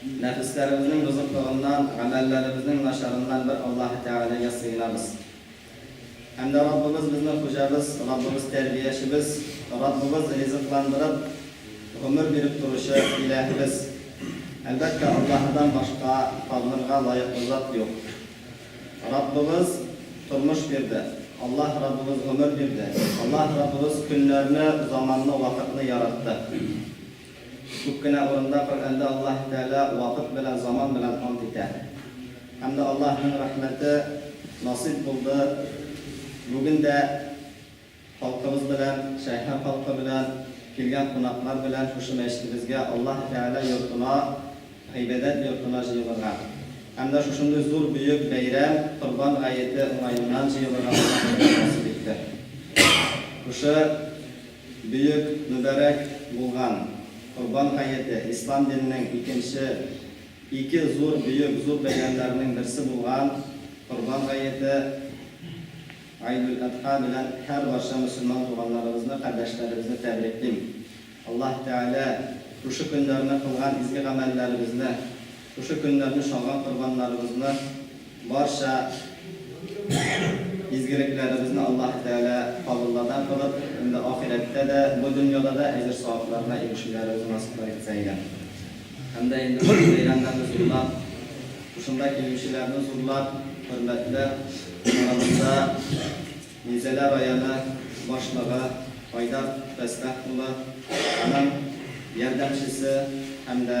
Нәфесләребезнең бозыклыгыннан, гамәлләребезнең начарыннан бер Аллаһы Тәгаләгә сыенабыз. Һәм дә Раббыбыз безнең Хуҗабыз, Раббыбыз Тәрбиячебез, Раббыбыз ризыкландырып, гомер биреп торучы Илаһыбыз. Әлбәттә, Аллаһыдан башка табынырга лаеклы зат юк. Раббыбыз тормыш бирде, Аллаһ Раббыбыз гомер бирде, Аллаһ Раббыбыз көннәрне, заманны, вакытны яратты. Күп кенә урында Коръәндә Аллаһы Тәгалә вакыт белән, заман белән ант итә. Һәм дә Аллаһының рәхмәте насыйп булды, бүген дә халкыбыз белән, Шәһәр халкы белән, килгән кунаклар белән шушы мәчетебезгә, Аллаһы Тәгалә йортына, гыйбадәт йортына җыелырга һәм дә шушындый зур бөек бәйрәм, Корбан гаете уңаеннан җыелырга Аллаһы Тәгалә насыйп итте. Шушы. Бөек мөбарәк булган Корбан гаете, ислам диненең икенче ике зур, бөек зур бәйрәмнәренең берсе булган Корбан гаете, Гайдул-Әдха, белән һәрбарча мөселман туганнарыбызны, кардәшләребезне тәбриклим. Аллаһ Тәгалә шушы көннәрне кылган изге гамәлләребезне, Шушы көннәрне чалган корбаннарыбызны, барча изгелекләребезне Аллаһы Тәгалә кабылладан кылып, инде ахирәттә дә, бу дөньяда да әҗер-савапларына ирешүләребез насыйплар итсә иде. Һәм дә инде бу бәйрәмнәрне зурлап, шушында килүчеләрне зурлап, хөрмәтле арабызда Минзәлә районы башлыгы Айдар Фәстах улы, аның ярдәмчесе һәм дә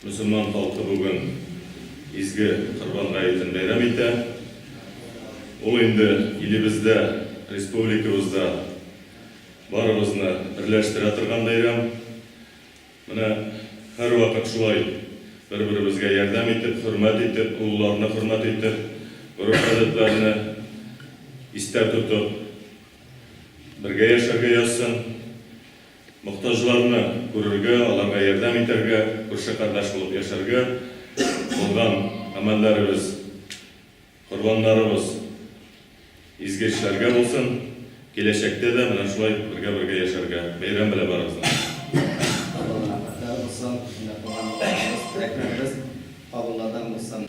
Мөселман халкы бүген изге Корбан гаетен бәйрәм итә. Ул инде илебездә, республикабызда барыбызны берләштерә торган бәйрәм. Менә һәрвакыт шулай бер-беребезгә ярдәм итеп, хөрмәт итеп, олыларны хөрмәт итеп, гореф-гадәтләрне истә тотып бергә яшәргә язсын. Мохтаҗларны күрергә, аларга ярдәм итәргә, күрше кардәш булып яшәргә булган амәлләребез, корбаннарыбыз изге эшләргә булсын, киләчәктә дә менә шулай бергә-бергә яшәргә. Бәйрәм белә барыгызны! Кабул рәхмәтләр булсын, менә туган балаларыбыз, теләкләребез кабулладан булсын.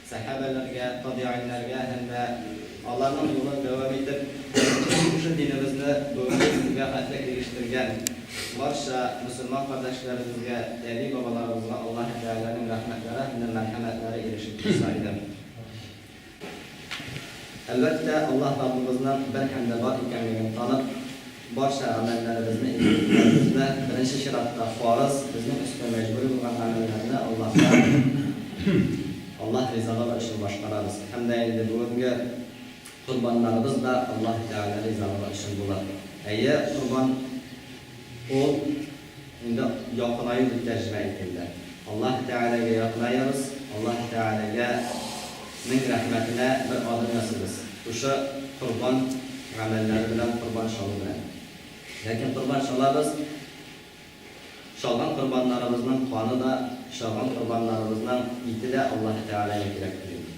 Сәхәбәләргә, табигыйньләргә һәм дә аларның юлын дәвам итеп, шушы динебезне бүгенге көнгә хәтле ирештергән барча мөселман кардәшләребезгә, әби-бабаларыбызга Аллаһы Тәгаләнең рәхмәтләре һәм дә мәрхәмәтләре ирешеп торса иде. Әлбәттә, Аллаһ Раббыбызның бер һәм дә бар икәнлеген танып, Барча гамәлләребезне итеп үтәбезме? Беренче чиратта, фарыз, безнең өстенә мәҗбүри булган гамәлләрне Аллаһка, Аллаһ ризалыгы өчен башкарабыз. Һәм дә инде бүгенге корбаннарыбыз да Аллаһ Тәгалә ризалыгы өчен булыр. Әйе, корбан ул. Инде якынаю дип тәрҗемә иткәндә. Аллаһы Тәгаләгә якынаябыз, Аллаһы Тәгаләгә нең рәхмәтенә бер адым ясыйбыз, шушы корбан гамәлләре белән, корбан чалу белән. Ләкин корбан чалабыз, чалган корбаннарыбызның каны да, чалган корбаннарыбызның ите дә Аллаһы Тәгаләгә кирәктер инде.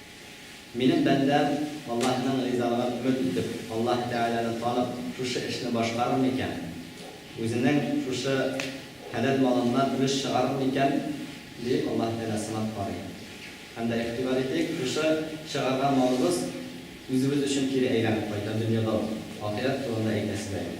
Минем бәндәм, Аллаһының ризалыгын өмет итеп, Аллаһ Тәгаләне танып, шушы эшне башкарыр микән? Үзенең шушы хәләл малыннан өлеш чыгарыр микән? диеп, Аллаһ Тәгалә сынап карый. Һәм дә, игътибар итик, шушы чыгарган малыбыз үзебез өчен кире әйләнеп кайта, дөньяда ук, ахирәт турында әйтәсе дә юк.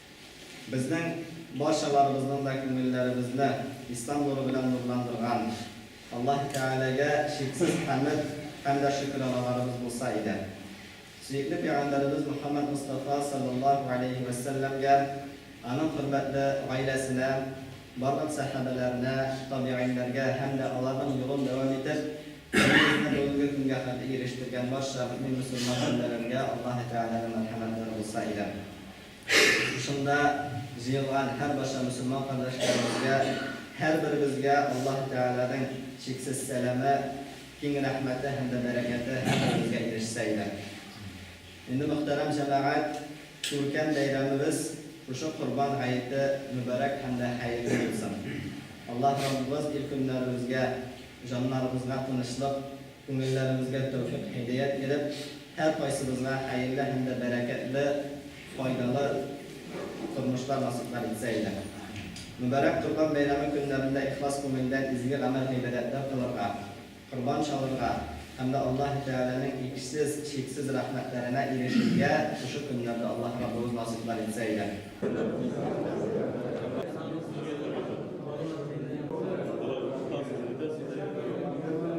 Безнең барчаларыбызның да күңелләребезне Ислам нуры белән нурландырган Аллаһ Тәгаләгә чиксез хәмед һәм дә шөкераналарыбыз булса иде. Сөекле Пәйгамбәребез Мөхәммәд Мостафа салләллаһу галәйһи вә сәлләмгә, аның хөрмәтле гаиләсенә, барлык сәхабәләренә, табигыйньләргә һәм дә аларның юлын дәвам итеп, динебезне бүгенге көнгә хәтле ирештергән барча мөэмин-мөселман бәндәләргә Аллаһ Тәгаләнең мәрхәмәтләре булса иде. Шушында җыелган һәрбарча мөселман кардәшләребезгә, һәрберебезгә Аллаһы Тәгаләнең чиксез сәламе, киң рәхмәте һәм дә бәрәкәте һәрберебезгә ирешсә иде. Инде, мөхтәрәм җәмәгать, күркәм бәйрәмебез шушы Корбан гаете мөбарәк һәм дә хәерле булсын. Аллаһ Раббыбыз ил-көннәребезгә, җаннарыбызга тынычлык, Күңелләребезгә тәүфыйк-һидәят биреп, һәркайсыбызга хәерле һәм дә бәрәкәтле, файдалы тормышлар насыйплар итсә иде. Мөбарәк Корбан бәйрәме көннәрендә ихлас күңелдән изге гамәл-гыйбадәтләр кылырга, корбан чалырга һәм дә Аллаһы Тәгаләнең иксез, чиксез рәхмәтләренә ирешергә шушы көннәрдә Аллаһ Раббыбыз насыйплар итсә иде.